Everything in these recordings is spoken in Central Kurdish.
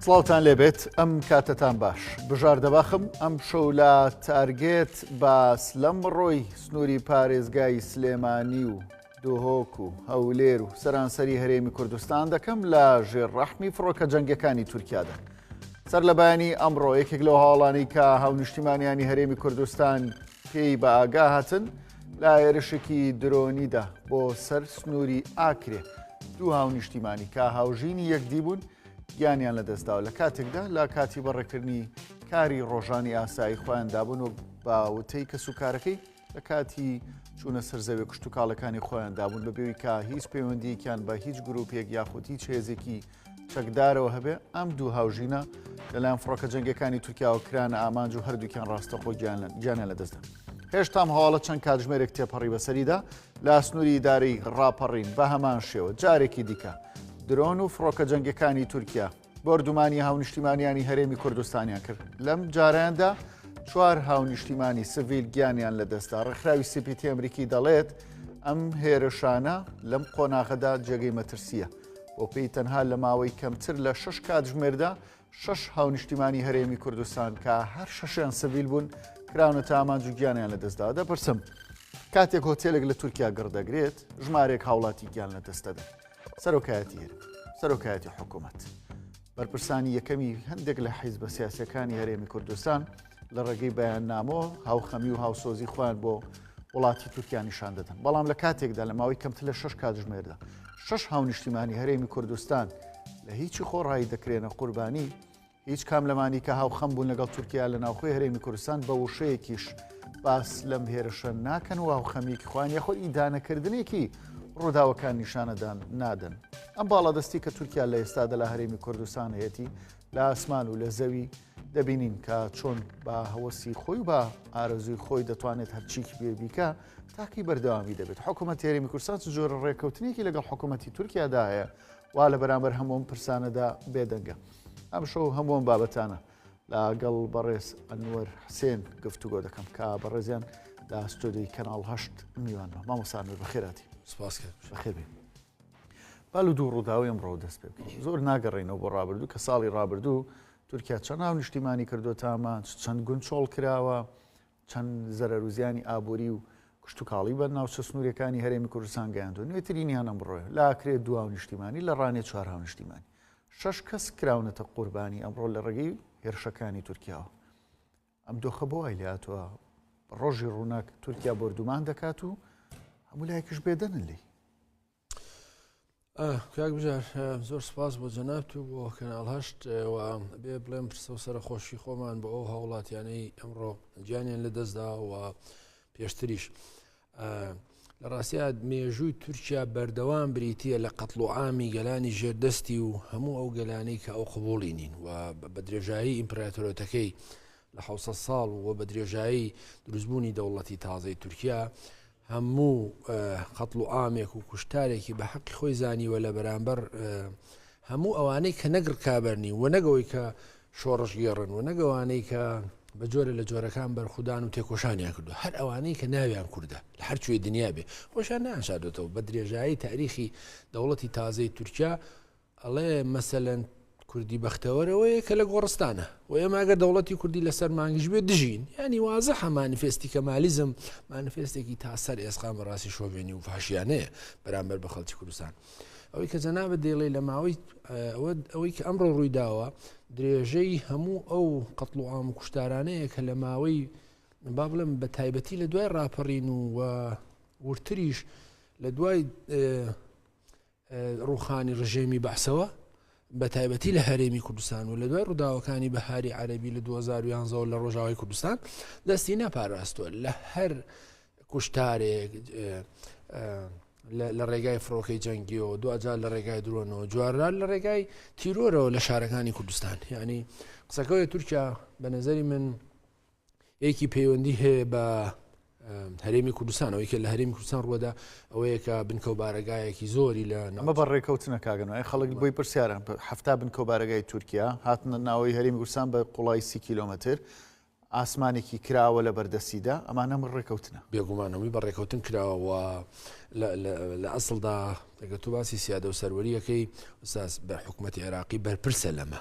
سڵاوتان لێبێت ئەم کاتتان باش بژار دەباخم ئەم شەو لە تارگێت باس لەم ڕۆی سنووری پارێزگای سلێمانی و دۆهۆک و هەولێر و سەرانسەری هەرێمی کوردستان دەکەم لە ژێر ڕەحمی فڕۆکە جەنگەکانی تورکیادا سەر لە بەیانی ئەمڕۆ یەکێک لەو هاوڵانی کە هاونیشتیمانیانی هەرێمی کوردستان پێی بە ئاگا هاتن لە هێرشێکی درۆنیدا بۆ سەر سنووری ئاکرێ دوو هاونیشتیمانی کە هاوژینی یەکدی بوون گیانیان لەدەستداوە لە کاتێکدا لە کاتی بەڕێکردنی کاری ڕۆژانی ئاسایی خۆیان دابن و باوتەی کەس و کارەکەی لە کاتی چوونە سەر زەوێ کشتتوکاڵەکانی خۆیان دابوون بە بێوی کا هیچ پەیوەندیکیان بە هیچ گرروپێک یاخود هیچ هێزێکی چەکدارەوە هەبێ، ئەم دوو هاوژینە لەلایەن فڕۆکە جەنگیەکانی تورکیاوە کرانە ئامانج و هەردووکیان ڕاستەخۆ گیانە لە دەستدا. هێشتام هەواڵە چەند کاتژمێرێک تێپەڕی بەسەریدا لە ئاسنووری ئیدارەی ڕاپەڕین بە هەمان شێوە جارێکی دیکە درۆن و فڕۆکە جەنگەکانی تورکیا بۆردومانی هاونیشتیمانیانی هەرێمی کوردستانیان کرد لەم جاراندا چوار هاونیشتیمانی سڤیل گیانیان لە دەستدا ڕێکخراوی سیپیتی ئەمریکی دەڵێت ئەم هێرشانە لەم قۆناغەدا جێگەی مەترسیە بۆ پێی تەنها لە ماوەی کەمتر لە شش کاتژمێردا شش هاونیشتیمانی هەرێمی کوردستان کە هەر شەشیان سڤیل بوون کراونە تا ئامانج و گیانیان لەدەستدا دەپرسم کاتێک هۆتێلێک لە تورکیا گڕدەگرێت ژمارێک هاوڵاتی گیان لە دەستەدا سەرۆکایەتی هەرێم سەرۆکایەتی حکوومەت بەرپرسانی یەکەمی هەندێک لە حیزبە سیاسەکانی هەرێمی کوردستان لە ڕێگەی بەیاننامۆ هاوخەمی و هاوسۆزی خۆیان بۆ وڵاتی تورکیا نیشان دەدەن بەڵام لە کاتێکدا لە ماوەی کەمتر لە شش کاتژمێردا شش هاونیشتیمانی هەرێمی کوردستان لە هیچی خۆڕایی دەکرێنە قوربانی هیچ کام لەمانی کە هاوخەم بوون لەگەڵ تورکیا لە ناوخۆی هەرێمی کوردستان بە وشەیەکیش باس لەم هێرشە ناکەن و هاوخەمیەکی خوان یەخۆ ئیدانەکردنێکی ڕووداوەکان نیشانەدان نادەن ئەم باڵادەستی کە تورکیا لە ئێستادا لە هەرێمی کوردستان هەیەتی لە ئاسمان و لە زەوی دەبینین کە چۆن بە هەوەسی خۆی بە ئارەزوی خۆی دەتوانێت هەرچیکی بێ بیکە تاکی بەردەوامی دەبێت حکوومە تێرەمی کورسان جۆرە ڕێککەوتنێکی لەگەڵ حکوومەتتی تورکیادا هەیە وا لە بەرامبەر هەمووم پرسانەدا بێدەنگە ئەم شەو هەمووم بابەتانە لەگەڵ بەڕێز ئەنوەر حسێن گفتوگۆ دەکەم کە بەڕێزیان لە ستۆدیی کەناڵ هەشت میوانمە مامۆسانەر بەخێراتی سپاس بەخێبێت با لە دوو ڕووداوی ئەمڕۆوە دەست پێ بکەین زۆر ناگەڕێینەوە بۆ ڕابردوو کە ساڵی ڕابردوو تورکیا چەند ناو نیشتیمانی کردو تامان چەند گوند چۆڵ کراوە چەند زەرەروزیانی ئابووری و کشتتوکاڵی بە ناوچە سنوورەکانی هەرێمی کوردستان گەیاندو نوێترینیان ئەمڕۆ لاکرێت دواو نیشتیمانی لە ڕانێ چوار هاو نیشتیمانی شش کەس کراونەتە قوربانی ئەمڕۆ لە ڕێگەی هێرشەکانی تورکیاوە ئەم دۆخە بۆ وای لێهاتووە ڕۆژی ڕووناک تورکیا بۆردومان دەکات و هەموو لایەکش بێدەنن لی کاک بژار زۆر سپاس بۆ جەنات و بۆ کەناڵ هەشت و بێ بڵێم پرسە و سەر خۆشی خۆمان بۆ ئەو هاوڵاتیانەی ئەمڕۆ گیانیان لە دەستدا و پێشتریش. لە ڕاستیا مێژووی تورکیا بەردەوام بریتە لە قەتڵ و ئامی گەلانی ژێردەستی و هەموو ئەو گەلانەی کە ئەو قبولی نین و بە درێژایی ئیمپراتۆرەتەکەی لە ح ساڵ و بە درێژایی دروستبوونی دەوڵەتی تازەی تورکیا هەموو قەتڵ و ئامێک و کوشتارێکی بە حەقی خۆی زانیوە لە بەرامبەر هەموو ئەوانەی کە نەگڕکابەرنی و نەگەوەی کە شۆڕشگێڕن و نەک ئەوانەی کە بە جۆرە لە جۆرەکان بەرخودان و تێکۆشانیان کردو هەر ئەوانەی کە ناویان کوردە لە هەر کوێ دنیا بێ خۆشیان نانشادێتەوە بە درێژایی تاریخی دەوڵەتی تازەی تورکیا ئەڵێ مەسەەن کوردی بەختەوەرەوەیە کە لە گۆڕستانە و ئێمە ئەگەر دەوڵەتی کوردی لەسەر مانگش بێ دژین ینی وازە هەمانفێستی کە مالیزم مانفێستێکی تا سەر ئێسقام بەڕاستی شۆڤێنی و فاشیانەیە بەرامبەر بە خەڵکی کوردستان. ئەوەی کە جەنابت دەیڵێ لە ماوەی ئەوەی کە ئەمڕۆ ڕوویداوە درێژەی هەموو ئەو قەتڵ و ئام و کوشتارانەیە کە لە ماوەی با بڵم بە تایبەتی لە دوای ڕاپەڕین و ورتریش لە دوای ڕوخانی ڕژێمی بەعسەوە بەتایبەتی لە هەرێمی کوردستان و لە دوای ڕووداوەکانی بەهاری عەربی لە 2011 لە ڕۆژاوای کوردستان دەستی نەپاراستوە لە هەر کوشتارێک لە ڕێگای فڕۆکەی جەنگیەوە دوجار لە ڕێگای درۆنەوە جوارران لە ڕێگای تیرۆرەوە لە شارەکانی کوردستان ینی قسەکەوەی تورکیا بە نظری من ێکی پەیوەندی هەیە بە هەرێمی کوردستان ئەوەی کە لە هەرێمی کوردستان ڕووەدا ئەوەیەکە بنکەو بارەگایەکی زۆری لە نامە بە ڕێکەوتنە کاگەنەوەی خەڵک بۆی پرسیارە هەفتا بنکەو بارەگای تورکیا هاتنە ناوەی هەرێمی کوردستان بە قوڵایی سی کیلومتر ئاسمانێکی کراوە لە بەردەستیدا ئەمانە من ڕێکەوتنە بێگومانەوەی بە ڕێکەوتن کراوەوە لە ئەسڵدا دەگە تو باسی سیادە و سەروەریەکەی ساس بە حکوومەتتی عێراقی بەرپرسە لەمە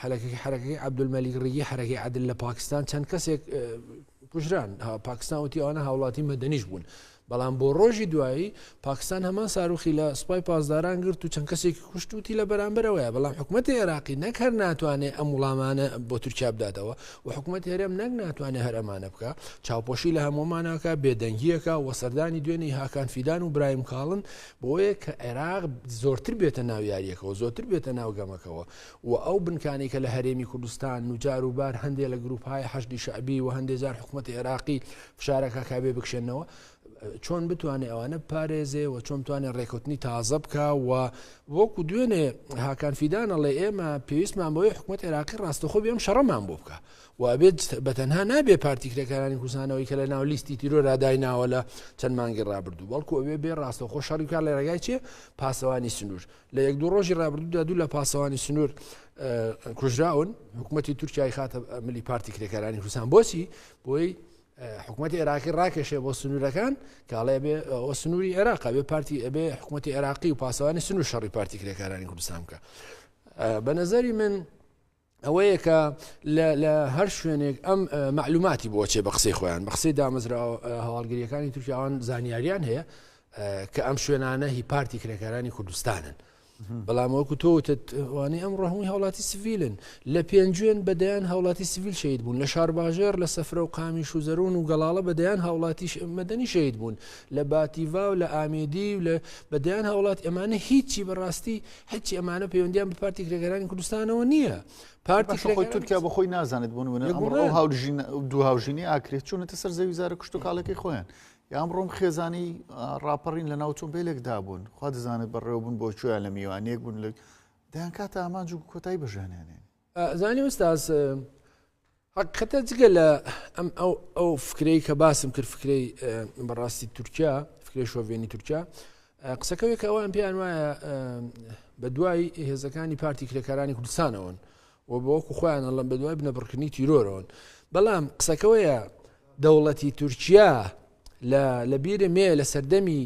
حەرەکەی حەرەکەی عبدولمەلیک ڕیگی حەرەکەی عدل لە پاکستان چەند کەسێک کوژران پاکستان وتی ئەوانە هاوڵاتی مەدەنیش بوون بەڵام بۆ ڕۆژی دوایی پاکستان هەمان ساروخی لە سوپای پاسداران گرت و چەند کەسێکی کوشتوتی لە بەرامبەرەوەیە بەڵام حکوومەتتی عێراقی نەکەر ناتوانێت ئەم وڵامانە بۆ تورکیا بداتەوە و حکوومەت هەرێم نەک ناتوانێت هەرەمانە بکە چاوپۆشی لە هەمومانەکە بێدەنگیەکە و سەردانی دوێنێی هاکان فیدان و برایم کاڵن بۆیە کە عێراق زۆرتر بێتە ناو یاریەکەەوە زۆرتر بێتە ناو گەمەکەەوە و ئەو بنکانی کە لە هەرێمی کوردستان نوجار و بار هەندێک لە گروپهای حەشدی شعبی و هەندێک جار حکوومەت عێراقی فشارەکە کابێ بکشێنەوە چۆن بتوانێت ئەوانە بپارێزێ و چۆن توانێ ڕێکوتنی تازە بکە و وەکو دوێنێ هاکان فیدانە ڵێ ئێمە پێویستمان بۆی حکوومەت عێراقی ڕاستەخۆ بێم شەڕەمان بۆ بکە و ئەبێت بەتەنها نابێ پارتی کرێکارانی کوردستانەوەی کە لە ناو لیستی تیرۆرا دایناوە لە چەند مانگی ڕابردوو بەڵکو ئەوێ بێ ڕاستە خۆ شەڕیکار لە ڕێگای چێ پاسەوانی سنوور لە یەک دوو ڕۆژی ڕابردوودا دوو لە پاسەوانی سنوور کوژراون حکوومەتتی تورکای خاتە ملی پارتی کرێکارانی کوردستان بۆچی بۆی حکوومەتی عێراقی ڕاکێشێ بۆ سنوورەکان کاڵێ بێ ئەو سنووری عێراق بێ پارتی ئەبێ حکوومەتی عێراقی و پاسەوانی سنوور شەڕی پارتی کرێکارانی کوردستان بکە بە نظری من ئەوەیە کە لە هەر شوێنێک ئەم معلوماتی بۆ چێ بە قسەی خۆیان بە قسەی دامەزرا هەواڵگریەکانی تورکیاوان زانیاریان هەیە کە ئەم شوێنانە هی پارتی کرێکارانی کوردستانن بەڵام وەکو تۆوتوانێ ئەم ڕەهمی هاوڵاتی سڤیلن لە پێنجوێن بەدەیان هاوڵاتی سڤیل شید بوون لە شارباژێر لە سەفرە و قامیش و زەرون و گەڵاڵە بەدەیان هاوڵاتیش مەدەنی شید بوون لە باتیڤا و لە ئامێدی و لە بەدەیان هاوڵات ئەمانە هیچی بەڕاستی هەچی ئەمانە پەیوەندیان بە پارتی کرێگەرانی کوردستانەوە نییە پارتی خۆی تورکیا بە خۆی نازانێت بوون منە ئەمڕۆ هاوژین دو هاوژینی ئاکرێت چونەتە سەر زەوی زارە کوشت و کاڵەکەی خۆیان یام ڕۆم خێزانی ڕاپەڕین لە ناو تۆمبیلێکدا بوون خوا دەزانێت بەڕێوە بوون بۆ چۆیان لە میوانێک بوون لە دایان کاتە ئامانج و کۆتایی بەژانیانێن زانی وستاز هەقیقەتە جگە لە ئەم ئەو ئەو فکرەی کە باسم کرد فکرەی بەڕاستی تورکیا فکری شۆڤێنی تورکیا قسەکەوێک ئەوان پێیان وایە بە دوای هێزەکانی پارتی کرێکارانی کوردستانەوەن و بەوەکو خۆیان ئەڵم بە دوای بنەبڕکردنی تیرۆرەوەن بەڵام قسەکەوەیە دەوڵەتی تورکیا لە لەبیرە مێ لە سەردەمی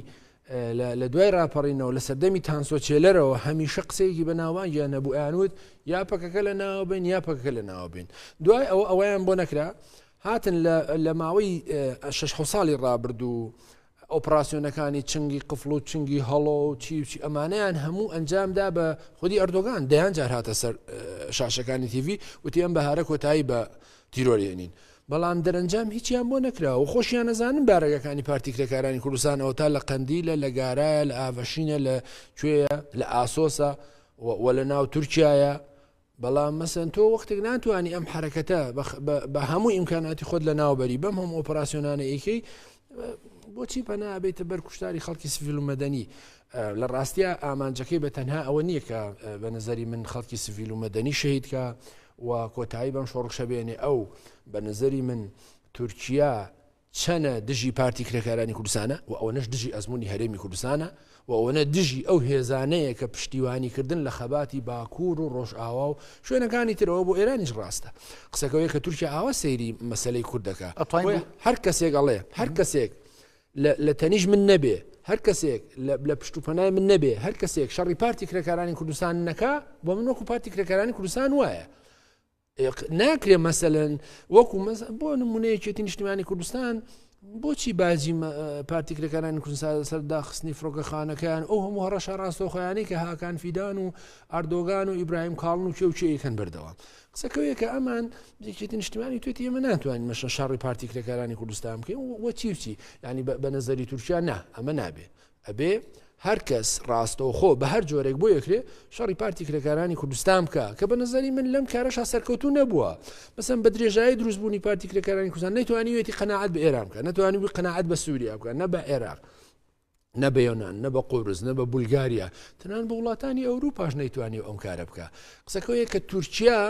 لە دوای راپەڕینەوە لە سەردەمی تانسۆ چێلەرەوە هەمیشە قسەیەکی بە ناوانگیان نەبوو ئەیانوت یا پەکەکە لە ناوە بین یا پەکەکە لە ناوە بین دوای ئەوە ئەویان بۆ نەکرا هاتن لە ماوەی شش ساڵی ڕابردوو ئۆپراسسیۆنەکانی چنگی قفل و چنگی هەڵۆ و چیوچی ئەمانیان هەموو ئەنجامدا بە خودی ئەردۆگان دەیان جار هاتە سەر شاشەکانی تیڤی وتی ئەم بەهارە کۆتایی بە تیرۆریێنین. بەڵام دەرەنجام هیچیان بۆ نەکراوە و خۆشیان ئەزانن بارەگاکانی پارتی کرێکارانی کوردستان ئەوەتا لە قەندیلە، لە گارایە، لە ئاڤشینە، لە کوێیە، لە ئاسۆسە و لە ناو تورکیایە، بەڵام مەسەن تۆ وەختێک ناتوانی ئەم حەرەکەتە بە هەموو ئیمکاناتی خۆت لە ناوبەری بەم هەموو ئۆپراسیۆنانە ئەیکەی بۆچی پەنا بێتە بەر کوشتاری خەڵکی سڤیل و مەدەنی لە ڕاستە ئامانجەکەی بە تەنها ئەوە نییە کە بە نظری من خەڵکی سڤیل و مەدەنی شەیدکە و کۆتایی بەم شۆڕشەبێنێ ئەو بە نظری من تورکیا چەنە دژی پارتی کرێکارانی کوردستانە و ئەوەنەش دژی ئەزمموی هەرێمی کوردستانە و ئەوەنە دژی ئەو هێزانەیە کە پشتیوانی کردن لە خەباتی باکوور و ڕۆژئاوا و شوێنەکانی ترەوە بۆ ئێرانیش ڕاستە قسەکەوەیە کە تورکیا ئاوا سەیری مەسەلەی کورد دەکا بۆیە هەر کەسێک ئەڵێ هەر کەسێک لە تەنیش من نەبێ هەر کەسێک لە پشت و پەنای من نەبێ هەر کەسێک شەڕی پارتی کرێکارانی کوردستان نەکا بۆ من وەکو پارتی کرێکارانی کوردستان وایە ناکرێ مەسەن وەکو بۆ نمونە یەکێتی نیشتمانی کوردستان بۆچی باجی پارتیکرەکانانی کوردسا سەر داخستنی فڕۆکەخانەکەیان ئەو هەموو هەڕەشە ڕاستەخۆیانی کە هاکان فیدان و ئەردۆگان و ئیبراهیم کاڵن و کێوچەیەکەن بردەوە قسەکەوێکە ئەمان یەکێتی نیشتمانی توێتی ئێمە ناتوانین مەشە شەڕی پارتیکرەکانانی کوردستان بکەین وەچیچی ینی بە نەزەری تورکیا نا ئەمە نابێت ئەبێ هەرکەس ڕاستەوخۆ بە هەر جۆرێک بۆ یەکرێ شەڕی پارتی کرێکارانی کوردستان بکە کە بە نظری من لەم کارەشا سەرکەوتو نەبووە مەسم بە درێژایی دروستبوونی پارتی کرێکارانی کوردستان نەیتوانیوێتی قەنەعەت بە ئێران بکە نەتوانی بووی قەنەعەت بە سووریا بکە نە بە عێراق نە بە یۆناان نە بە قۆرز نە بە بولگاریا تەنان بە وڵاتانی ئەوروپاش نەیتوانی ئەم کارە بکە قسەکەوەیە کە تورکیا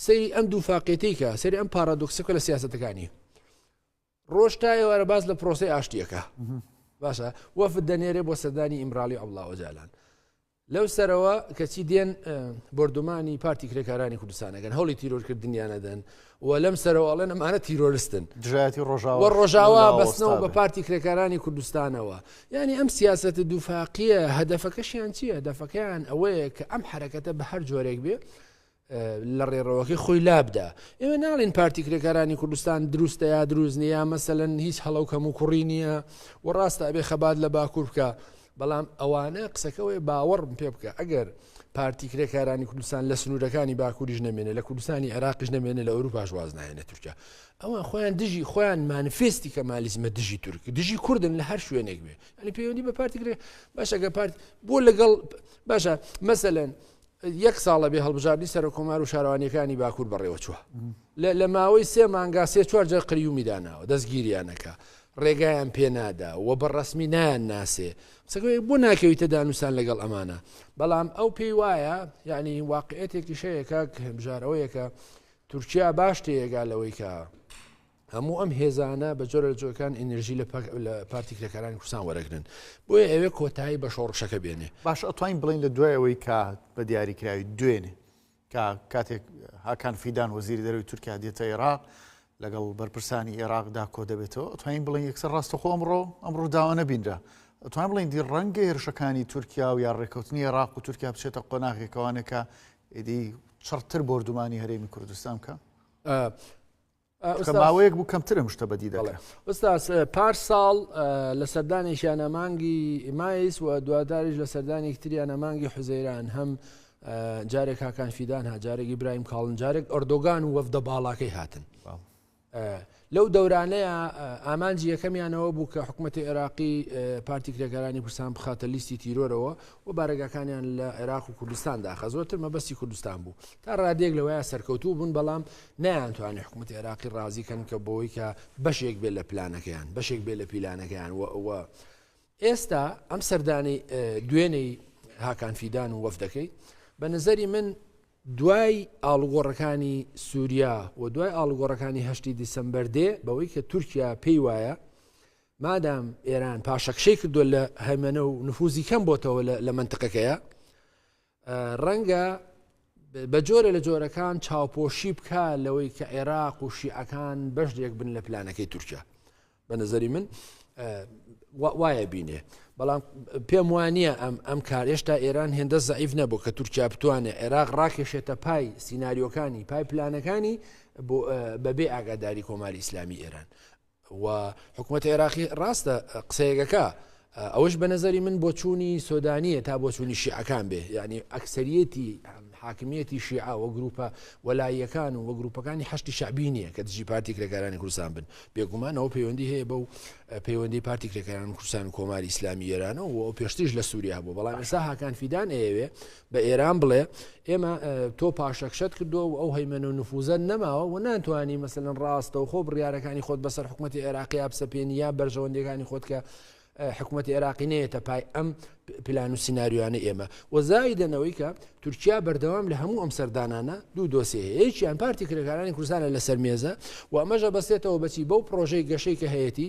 سەیری ئەم دوو فاقێتیکە سەری ئەم پارادۆکسەکە لە سیاستەکانی ڕۆژ تا ئێوارە باس لە پرۆسی ئاشتیەکە باشە وەفد دەنێرێ بۆ سەردانی ئیمراڵی ئەڵا ئۆجالان لەو سەرەوە کەچی دێن بردومانی پارتی کرێکارانی کوردستانەکەن هەڵی تیرۆرکردنیانەدەن و لەم سەرەوەڵێن ئەمانە تیرۆرستن دژایەتی ڕۆژاوە ڕۆژاوا بەستنەوە بە پارتی کرێکارانی کوردستانەوە ینی ئەم سیاست دووفاقیە هەدەفەکەشیان چییە دەفەکەیان ئەوەیە کە ئەم حرەکەتە بە هەر جۆرێک بێ لە ڕێڕەوەکەی خۆی لابدا. ئێمە ناڵێین پارتی کرێکارانی کوردستان دروستە یا دروست نیە یا مەسەلەن هیچ هەڵە و کەم و کوڕی نییە و ڕاستە ئەبێ خەبات لە باکوور بکە بەڵام ئەوانە قسەکەوەی باوەڕم پێ بکە ئەگەر پارتی کرێکارانی کوردستان لە سنوورەکانی باکووریش نەمێنێ لە کوردستانی عراقیش نەمێنێ لە ئەوروپاش واز نایێنە تورکیا ئەوان خۆیان دژی خۆیان مانفێستی کە مالیزمە دژی تورک دژی کوردن لە هەر شوێنێک بێ ئەنی پەیوەندی بە پارتی کرێ باشەکە پارت بۆ لەگەڵ باشە مەسەەن یەک ساڵە بێ هەڵبژاردنی سەرۆککۆمار و شارەوانییەکانی باکوور بەڕێوەچووە. لە لە ماوەی سێ مانگا سێ چوار جار قەیومی داناوە، دەستگیریان ئەکا، ڕێگایان پێ نادا و بە ڕەسمی نایانناسێ. قسەکە وایە بۆ ناکەویتە دانوستان لەگەڵ ئەمانە؟ بەڵام ئەو پێی وایە یانی واقعیەتێکیش هەیە کاک بژار ئەوەیە کە تورکیا باش تێیەگا لەوەی کە هەموو ئەم هێزانە بە جۆرە لە جۆەکان ئەنرژی لە پارتی کرێکارانی کوردستان وەرەگرن بۆیە ئەوێ کۆتایی بە شۆڕشەکە بێنێ باش ئەتوانین بڵین لە دوایەوەی کە بە دیاریکراوی دوێنێ کە کاتێک هاکان فیدان وەزیری دەروی تورکیا دێتە عێراق لەگەڵ بەرپرسانی عێراقدا کۆ دەبێتەوە ئەتوانین بڵین یەکسەر ڕاستەخۆ ئەمڕۆ ئەم ڕووداوە نەبینرا ئەتوان بڵین دی ڕەنگە هێرشەکانی تورکیا و یا ڕێککەوتنی عێراق و تورکیا بچێتە قۆناغێکەوانەکە ئیدی چڕتر بردومانی هەرێمی کوردستان بکە ماوەیەک بوو کەمتر ئەم شتە بەدی دەڵێ ئوستاس پار ساڵ لە سەردانێکیانە مانگی مایس و دواداریش لە سەردانی تریانە مانگی حوزەیران هەم جارێک هاکان فیدان ها جارێکی برایم کاڵن جارێک ئۆردۆگان و وەفدە باڵاکەی هاتن لەو دەورانەیە ئامانجی یەکەمیانەوە بوو کە حکوومەتتی عێراقی پارتی کرێکارانی کوردستان بخاتە لیستی تیرۆرەوە و بارەگەکانیان لە عێراق و کوردستان داخە زۆرتر مەبەستی کوردستان بوو تا ڕادێک لەوەیە سەرکەوتوو بوون بەڵام نەیانتوانی حکومەتی عێراقی ڕازی کەن کە بەوەی کە بەشێک بێت لە پلانەکەیان بەشێک بێت لە پیلانەکەیان و ئەوە ئێستا ئەم سەردانی دوێنەی هاکان فیدان و وەفدەکەی بە نظری من دوای ئاڵگۆڕەکانی سووریا و دوای ئاڵگۆڕەکانی هەشتی دیسمبەر دێ بەوەی کە تورکیا پێی وایە مادام ئێران پاشەکشەی کردو لە هەمەە و نفوزی کەم بۆتەوە لە منتقەکەیە ڕەنگە بە جۆرە لە جۆرەکان چاوپۆشی بکە لەوەی کە عێراق و شیعەکان بەشێک بن لە پلانەکەی تورکیا بە نظری من وایە بینێ بەڵام پێم وانە ئەم ئەم کار هێشتا ئێران هێندە زعیف نەبوو کە تورکیا بتوانێت عێراق ڕاکێشێتە پای سینناریۆکانی پای پلانەکانی بەبێ ئاگاداری کۆماری ئیسلامی ئێران و حکومەتی عێراقی ڕاستە قسەیەکەکە ئەوەش بە نظری من بۆچوونی سۆدانیە تا بۆچوونی شیعەکان بێ یعنی ئەکسریەتی حاکمیەتی شیعە و گروپە وەلاییەکان و وە گروپەکانی هەشتی شعبی نییە کە دژی پارتی کرێکارانی کوردستان بن بێگومانەوە پەیوەندی هەیە بەو پەیوەندی پارتی کرێکاران کوردستان کۆماری ئیسلامی ئێرانەوە و پێشتیش لە سووریا بوو بەڵام ئێستا هاکان فیدان ئەیەوێ بە ئێران بڵێ ئێمە تۆ پاشەکشەت کردووە و ئەو هەیمەن و نفوزە نەماوە و ناتوانانی مەسەن ڕاستە و خۆ بڕارەکانی خۆت بەسەر حکوومەتتی عێراقییا بسەپێنی یا بەرژەوەندەکانی خۆت کە حکوومەت عێراقی نێتە پای ئەم پلان و سناریوانە ئێمە وەزای دەنەوەی کە تورکیا بەردەوام لە هەموو ئەم سەردانانە دوو دۆسیه یەکیان پارتی کرێکارانی کوردستانە لەسەر مێزە و ئەمەژە بەسێتەوە بەچی بەو پرۆژەی گەشەی کە هەیەی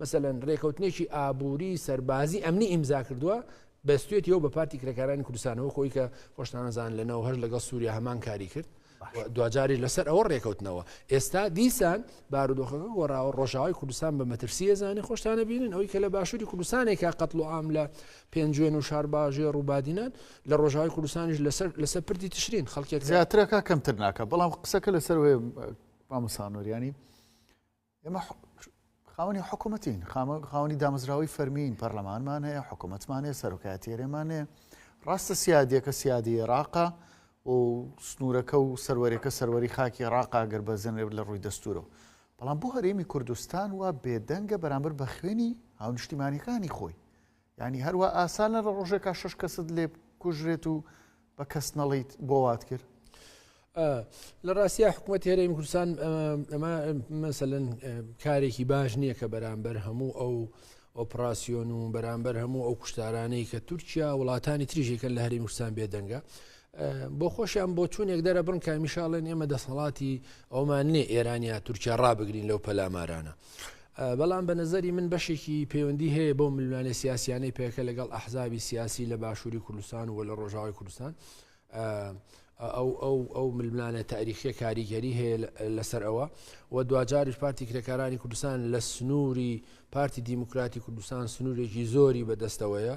مەسەلەن رێکەوتنێکی ئابووری، سەربازی، ئەمنی ئیمزا کردووە، بەستێتیەوە بە پارتی کرێکارانی کوردستانەوە خۆی کە خۆشتانەزان لە نەوە هەش لەگەڵ سووریا هەمان کاری کرد. دواجاری لەسەر ئەوە ڕێکەوتنەوە ئێستا دیسان بارودۆخەکە گۆڕاوە ڕۆژاوای کوردستان بە مەترسیە زانانی خۆشتانە بینن ئەوی کە لە باشووری کوردستانێکە قەتڵ و ئام لە پێنجوێن و شارباژێ ڕووبادینان لە ڕۆژاوای کوردستانیش لەسەر لەسەر پردی تشرین خەڵکێک زیاترەکە کەمتر ناکە بەڵام قسەکە لەسەر مامسانۆریانی ئێمە خاوەنی حکوومەتین خاوەنی دامەزراوەی فەرمیین پەرلەمانمان هەیە حکوومەتمان هەیە سەرۆکاتێرێمان هەیە ڕاستە سیادیەکە سیادی عێراقا و سنوورەکە و سەروەرەکە سەروەری خاکی عراقا گەر بەزێنێ لە ڕووی دەستورەوە بەڵام بۆ هەرێمی کوردستان وا بێدەنگە بەرامبەر بە خوێنی هاونیشتیمانەکانی خۆی یانی هەر وا ئاسانە لە ڕۆژێکا شەش کەست لێ بکوژرێت و بە کەس نەڵیت بۆ وات کرد لە ڕاستیا حکوومەت هێرەی کوردستان ئەمە مەسەن کارێکی باش نییە کە بەرامبەر هەموو ئەو ئۆپراسسیۆن و بەرامبەر هەموو ئەو کوشتارانەی کە تورکیا وڵاتانی تریژێکە لە هەریم کوردستان بێدەنگە بۆ خۆشیان بۆ چونێک دەرە بڕن کامیشاڵێن ئێمە دەسەڵاتی ئەومان نێ ئێرانیا تورکیا ڕابگرین لەو پەلامارانە. بەڵام بە نەزەری من بەشێکی پەیوەندی هەیە بۆ ملوانێ سیاسیانەی پێکە لەگەڵ ئەحزابی سیاسی لە باشووری کوردستان و لە ڕۆژاوی کوردستان ئەو ئەو ئەو ململانە تاریخە کاریگەری هەیە لەسەر ئەوە و دواجاریش پارتی کرێکارانی کوردستان لە سنووری پارتی دیموکراتی کوردستان سنوورێکی زۆری بەدەستەوەیە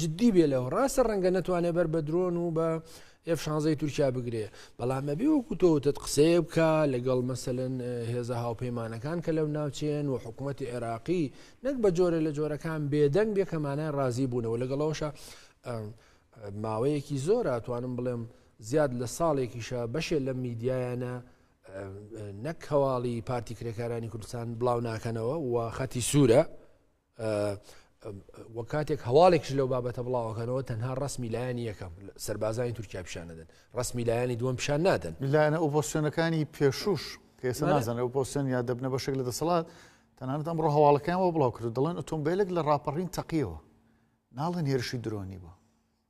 جدی بێ لەوە ڕاستە ڕەنگە نەتوانێ بەر بە درۆن و بە ئف شانزەی تورکیا بگرێ بەڵام ئەبێ وەکو تۆوتت قسەیە بکە لەگەڵ مەسەن هێزە هاوپەیمانەکان کە لەو ناوچێن و حکوومەتتی عێراقی نەک بە جۆرە لە جۆرەکان بێدەنگ بێ کەمانای ڕازی بوونەوە لەگەڵەوەشە ماوەیەکی زۆر توانم بڵێم زیاد لە ساڵێکیشە بەشێ لە میدیایانە نەک هەواڵی پارتی کرێکارانی کوردستان بڵاو ناکەنەوە و خەتی سوورە وە کاتێک هەواڵێکش لەو بابەتە بڵاوەکەنەوە تەنها ڕسمی لایەن یەکەم سربازانی تورکیا پیشان دەدەن ڕسمی لایەنی دووەم پیشان نادەن لایەنە ئۆپۆسیۆنەکانی پێشوش کەێستا نازانە ئۆپۆسیۆن یا دەبنە بەشێک لە دەسەڵات تەنانەت ئەمڕۆ هەواڵەکەیانەوە بڵاو کرد دەڵێن ئۆتۆمبیلێک لە ڕاپەڕین تەقیەوە ناڵێن هێرشی درۆنی بوو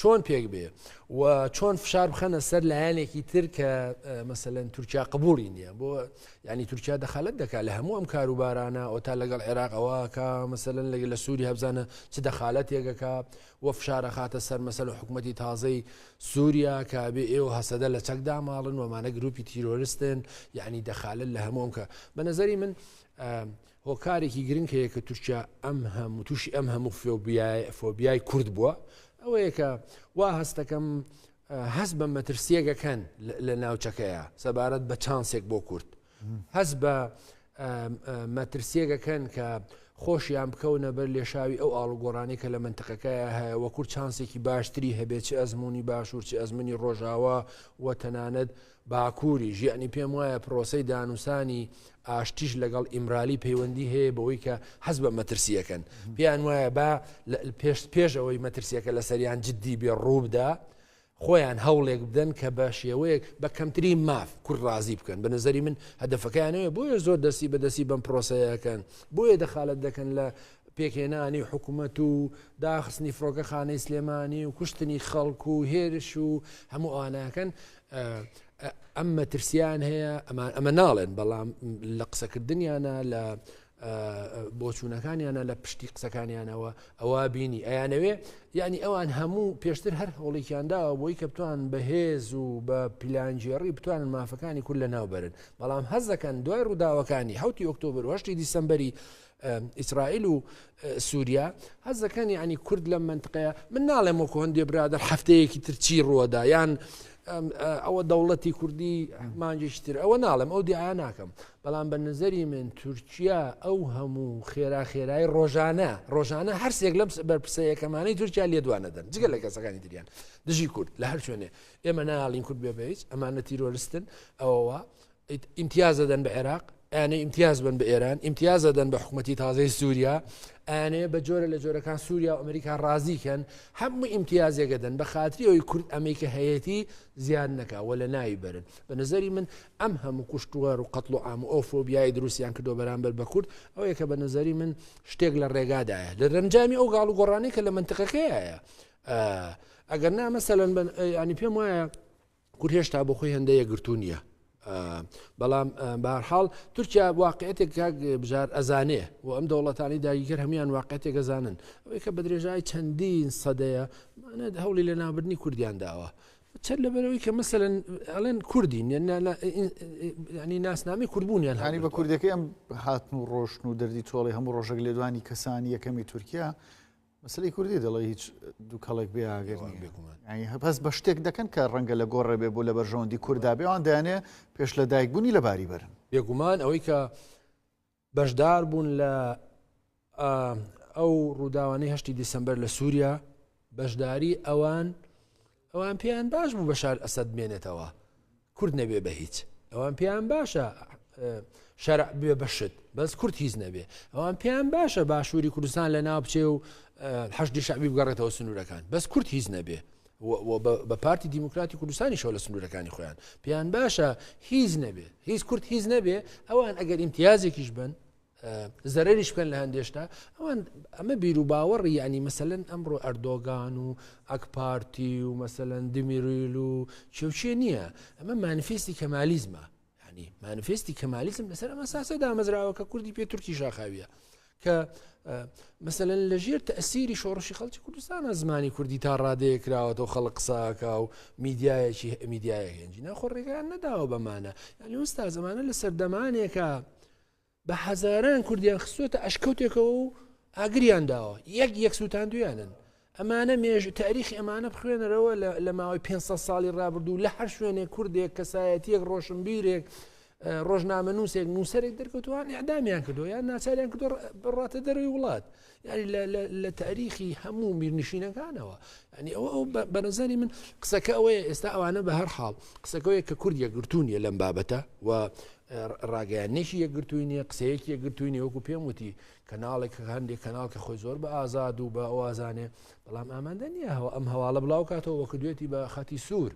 چۆن پێک بێ و چۆن فشار بخەنە سەر لایەنێکی تر کە مەسەەن تورکیا قبولی نییە بۆ ینی تورکیا دەخالت دەکات لە هەموو ئەم کاروبارانە ئەو تا لەگەڵ عێراقەوە کە مەسەن لەگە لە سووری هەبزانە چ دەخالەت یەکەکە و فشارە خاتە سەر مەسەر و حکوومەتتی تازەی سووریا کە بێ ئێوە هەسەدە لە چەکدا ماڵن ومانە گروپی تیرۆرستن یعنی دەخالت لە هەمووم کە بە نظری من هۆکارێکی گرنگ هەیە کە تورکیا ئەم هەموو تووشی ئەم هەموو فۆبیای کورد بووە ئەوەیە کە وا هەستەکەم هەست بە مەترسیەکەکەن لە ناوچەکەیە سەبارەت بە چانسێک بۆ کورد هەست بە مەترسیەکەکەن کە خۆشیان بکەونە بەر لێشاوی ئەو ئاڵگۆڕانی کە لە منتقەکەیە هەیە وە کورد چانسێکی باشتری هەبێت چ ئەزمموی باشوور چ ئەزممنی ڕۆژاوا و تەنانەت باکووریش، یەعنی پێم وایە پرۆسەی دانوسانی ئاشتیش لەگەڵ ئیمرالی پەیوەندی هەیە بەوەی کە حەز بە مەترسیەکەن پێیان وایە با پێش پێش ئەوەی مەترسیەکە لەسەریان جددی بێ ڕووبدا خۆیان هەوڵێک بدەن کە بە شێوەیەک بە کەمتری ماف کورد ڕازی بکەن بە نظری من هەدفەکانەیە بۆیە زۆر دەستی بەدەستی بەم پرۆسەیەکەن بۆیە دەخالت دەکەن لە پێکێنانی حکوومەت و داخستنی فڕۆکە خانەی سلێمانی و کوشتنی خەڵکو و هێرش و هەموو ئاناکەن ئەم مەترسیان هەیە ئەمان ئەمە ناڵێن بەڵام لە قسەکردنیانە لە بۆچوونەکانیانە لە پشتی قسەکانیانەوە ئەوە بینی ئەیانەوێ یعنی ئەوان هەموو پێشتر هەر هەوڵێکیاندا بۆی کە بتوان بەهێز و بە پیلانجیێڕی بتوانن مافەکانی کول لە ناوبرن بەڵام هەزەکەن دوای ڕووداوەکانی حوتی ئۆکتۆبر وشتی دیسمبری ئیسرائیل و سووریا هەز دەکەن یعنی کورد لەم منتقەیە من ناڵێم وەکو هەندێ برادە هەفتەیەکی ترچی ڕووەدا یان ئەوە دەوڵەتی کوردی مانجشتر ئەوە ناڵێم ئەو دیعە ناکەم بەڵام بە نظری من تورکیا ئەو هەموو خێرا خێرای ڕۆژانە ڕۆژانە هەرسێک لەم بەرپسەیەکەمانەی تورکیا لێدوانە دەن جگە لە کەسەکانی دریان دژی کورد لە هەر شوێنێ ئێمە ناڵین کورد بێ بەیس ئەمانە تیرۆرستن ئەوەوە ئیمتیاز ئەدەن بە عێراق، ئەیانەوێ ئیمتیاز بن بە ئێران، ئیمتیاز ئەدەن بە حکومەتی تازەی سووریا، ئەیانەوێ بە جۆرە لە جۆرەکان سووریا و ئەمریکا ڕازی کەن، هەموو ئیمتیازێک ئەدەن بە خاتری ئەوەی کورد ئەمەی کە هەیەتی زیاد نەکا و لە ناوی بەرن. بە نەزەری من ئەم هەموو کوشتووار و قەتڵ و عام و ئەو فۆبیای دروستیان کردووە بەرامبەر بە کورد ئەوەیە کە بە نەزەری من شتێک لە ڕێگادایە لە دەرەنجامی ئەو گاڵ و گۆڕانەی کە لە منتقەکەیە ئەگەر نا مەسەلەن ینی پێم وایە کورد هێشتا بۆ خۆی هەندە یەگرتو نییە بەڵام بارحاڵ تورکیا واقعێتێک کاک بژار ئەزانێ و ئەم دەوڵەتانی داگیکرد هەموان واقعێتێک ئەزانن ئەوەی کە بە درێژای چەندین سەدەیە هەوڵی لە نابردنی کوردیان داوە چەند لەبەرەوەی کە مەسەن ئەڵێن کوردین ینی ناسنامی کوردبوونیان هاانی بە کوردەکەی ئەم هاتن و ڕۆشن و دەردی تۆڵی هەموو ڕۆژەک لێدوانی کەسانی یەکەمی تورکیا مەسەلەی کوردی دەڵێ هیچ دووکەڵێک بێ ئاگەر نیە هەپەس بە شتێک دەکەن کە ڕەنگە لە گۆڕێ بێ بۆ لە بەرژەوەندی کوردا بێوان دەیانێ پێش لە دایکبوونی لە باری بەرن بێگومان ئەوەی کە بەشدار بوون لە ئەو ڕووداوانەی هەشتی دیسمبەر لە سووریا بەشداری ئەوان ئەوان پێیان باش بوو بەشار ئەسەد بمێنێتەوە کورد نەبێ بە هیچ ئەوان پێیان باشە شەرع بێ بەشت بەس کورد هیچ نەبێ ئەوان پێیان باشە باشووری کوردستان لە ناو بچێ و حەشتی شعبی بگەڕێتەوە سنوورەکان بەس کورد هیچ نەبێ بە پارتی دیموکراتی کوردستانی شەو لە سنوورەکانی خۆیان پێیان باشە هیچ نەبێ هیچ کورد هیچ نەبێ ئەوان ئەگەر ئیمتیازێکیش بن زەرەریش بکەن لە هەندێ شتا ئەوان ئەمە بیروباوەڕی یعنی مەسەن ئەمڕۆ ئەردۆگان و ئەکپارتی و مەسەن دمیرویل و چێوچێ نییە ئەمە مانفیستی کەمالیزمە ینی مانفستی کەمالیزم لەسەر ئەمە ساسە دامەزراوە کە کوردی پێ تورکی شاخاویە کە مثلەن لە ژێر تەسیری شۆڕشی خەڵکی کوردستانە زمانی کوردی تا ڕادەیە کراوەەوە خەڵک قساکە و میدیایەکی میدیایە هێنجی ناخۆ ڕێگان نەداوە بەمانە یعنی وستا زمانە لە سەردەمانێکە بە هەزاران کوردیان خستۆتە ئەشکەوتێکەوە و ئاگریان داوە یەک یەک سووتاندویانن ئەمانە مێژ تاریخی ئەمانە بخوێنەرەوە لە ماوەی 500 ساڵی ڕابردوو لە هەر شوێنێک کوردێک کەسایەتیەک ڕۆشنبیرێک ڕۆژنامە نووسێک نووسەرێک دەرکەوتوان ئەعدامیان کردو یان ناچاریان کردو بڕاتە دەروی وڵات یاری لە تاریخی هەموو میرنشینەکانەوە ینی ئەوە ئەو بەنەزاری من قسەکە ئەوەیە ئێستا ئەوانە بە هەر حاڵ قسەکەوەیە کە کورد یەکگرتوونیە لەم بابەتە و ڕاگەیانێکی یەکگرتووی نیە قسەیەکی یەکگرتووی وەکو پێم وتی کەناڵێک هەندێک کەناڵ کە خۆی زۆر بە ئازاد و بە ئەوازانێ بەڵام ئامادە نییە هەوە ئەم هەواڵە بڵاو کاتەوە وەکو دوێتی بە خەتی سوور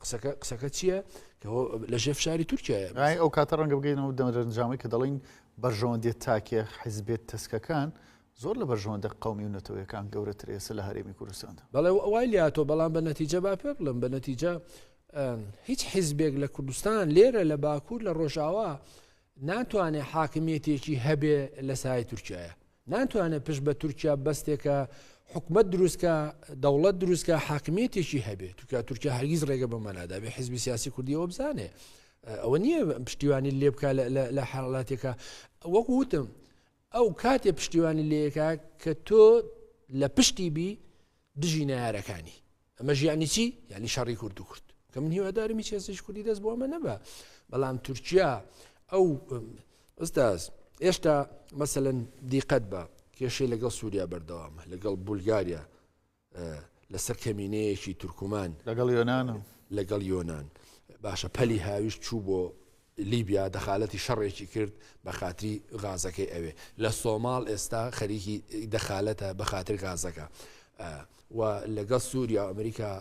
قسەکە قسەکە چییە کە لە ژێ فشاری تورکایە ڕای ئەو کاتە ڕەنگە بگەینەوە دەمەرەنجامی کە دەڵین بەرژەوەندێت تاکێ حیزبێت تەسکەکان زۆر لە بەرژەوەندە قومی و نەتەوەیەکان گەورەتر ئێسە لە هەرێمی کوردستاندا بەڵێ ئەوای لاتۆ بەڵام بە نەتیجە با پێ بڵم بە نەتیجە هیچ حیزبێک لە کوردستان لێرە لە باکوور لە ڕۆژاوا ناتوانێت حاکمیەتێکی هەبێ لە سای تورکایە ناتوانێت پشت بە تورکیا بەستێکە حکومت دروستکە دەوڵەت دروستکە حاکمیتێکی هەبێت توکە تورکیا هەرگیز ڕێگە بە مەنادابێ حزبی سیاسی کوردیەوە بزانێ ئەوە نییە پشتیوانی لێ بکە لە حاڵاتێکە وەک وتم ئەو کاتێ پشتیوانی لەکە کە تۆ لە پشتی بی دژی نارەکانی ئەمەش یعنی چی یعنی شەڕی کورد و کورد کە من هیوادارم هیچ کەسیش کوردی دەست بۆ ئەمە نەبە بەڵام تورکیا ئەو ئەستاز ئێشتا مەسەن دیقەت بە کێشەی لەگەڵ سووریا بەردەوامە لەگەڵ بولگاریا لەسەر کەمینەیەکی تورکمان لەگەڵ یۆناان لەگەڵ یۆناان باشە پەلی هاویش چوو بۆ لیبیا دەخالەتی شەڕێکی کرد بەخاتری غازەکەی ئەوێ لە سۆماڵ ئێستا خەریکی دەخالەتە بەخاتری غازەکە و لەگەڵ سووریا و ئەمریکا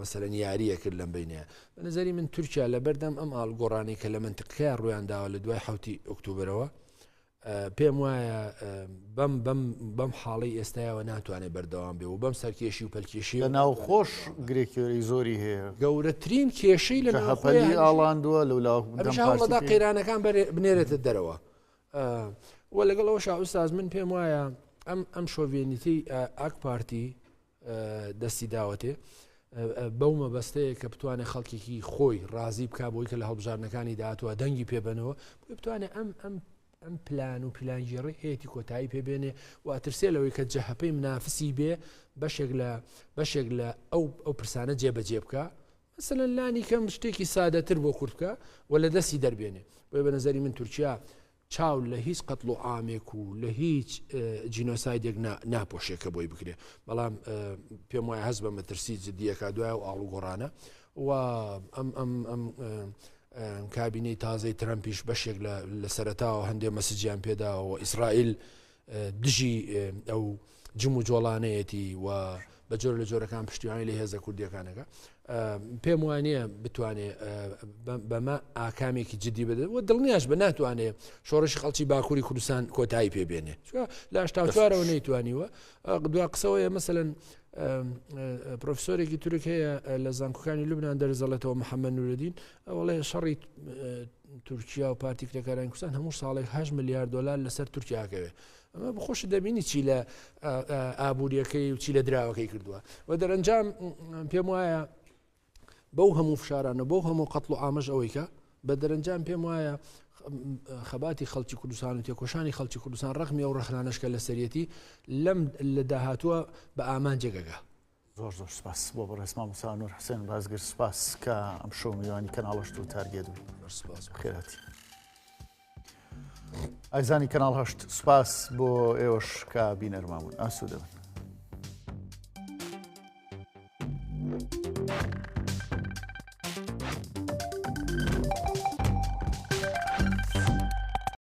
مەسەرەن یاریە کرد لەم بینێ نظری من تورکیا لە بەردەم ئەم ئاڵگۆڕانی کە لە منتقەیە ڕویانداوە لە دوای حوتی ئۆکتوبرەوە پێم وایە بەم بەم بەم حاڵی ئێستایەوە ناتوانێت بەردەوام بێ و بەم سەرکێشی و پەلکێشی لە ناو خۆش گرێکیۆری زۆری هەیە گەورەترین کێشەی لە هەپەلی ئاڵاندووە لەلادا قەیرانەکان بنێرێتە دەرەوە و لەگەڵەوە شاوساز من پێم وایە ئەم ئەم شۆڤێنیتی ئاک پارتی دەستی داوەتێ بەو مەبەستەیە کە بتوانێت خەڵکێکی خۆی ڕازی بک بۆی کە لە هەڵبژاردنەکانی داهاتوە دەنگی پێبنەوە بۆی بتوانێت ئەم ئەم ئەم پلان و پیلانگیێڕی هەیەی کۆتایی پێبێنێ و ئەترسێ لەوەی کە جەهپەی منافسی بێ بەشێک لە بەشێک لە ئەو ئەو پرسانە جێبەجێ بکە مثلەن لانی کەم شتێکی سادەتر بۆ کورتکە و لە دەستی دەربێنێ بۆی بە نظری من تورکیا چاو لە هیچ قەتڵ و عامێک و لە هیچ جینۆسایدێک ناپۆشێ کە بۆی بکرێ بەڵام پێم وایە هەست بە مەترسی جددیەکە دوای و ئاڵ و گۆڕانە و ئەم ئەم ئەم کابینەی تازەی ترەمپیش بەشێک لە سەرتاوە هەندێ مەسجیان پێداوە ئیسرائیل دژی ئەو جم و جۆڵانەیەتی و بە جۆر لە جۆرەکان پشتیوانی لە هێزە کوردیەکانەکە پێم وانە بتوانێت بەمە ئاکامێکی جددی بدەن و دڵنیاش بە ناتوانێت شۆڕش خەڵکی باکووری کوردستان کۆتایی پێبێنێ لاشتاوارەوە نەیتوانیوە دوا قسەوەیە مەمثلەن پرۆفسۆرێکی تورک هەیە لە زانکۆکانی لوبناان دەرزەڵێتەوە محەممە نورەدین ئەوڵێ شەڕی تورکیا و پارتی کرێکارانی کوردستان هەموو ساڵێک 8 ملیار دلار لەسەر تورکیا کەوێ ئەمە بخۆش دەبینی چی لە ئابوووریەکەی و چی لە دراوەکەی کردووە و دەرەنجام پێم وایە بەو هەموو فشارانە بەو هەموو قەتڵ و ئامەش ئەوەی کە بە دەرەنجام پێم وایە خەباتی خەڵکی کوردستان و تێکۆشانی خەڵکی کوردستان ڕخمی و ڕخنانشکە لە سەرەتی لەم لە داهاتووە بە ئامان جێگەگە زۆر زۆر سپاس بۆ بەڕێز مامۆستا نور حسێن بازگر سپاس کە ئەم شەو میوانی کەناڵەشت و تارگێت بوو خێراتی ئایزانی کەناڵ هەشت سپاس بۆ ئێوەش کە بینەرما بوون ئاسو دەبن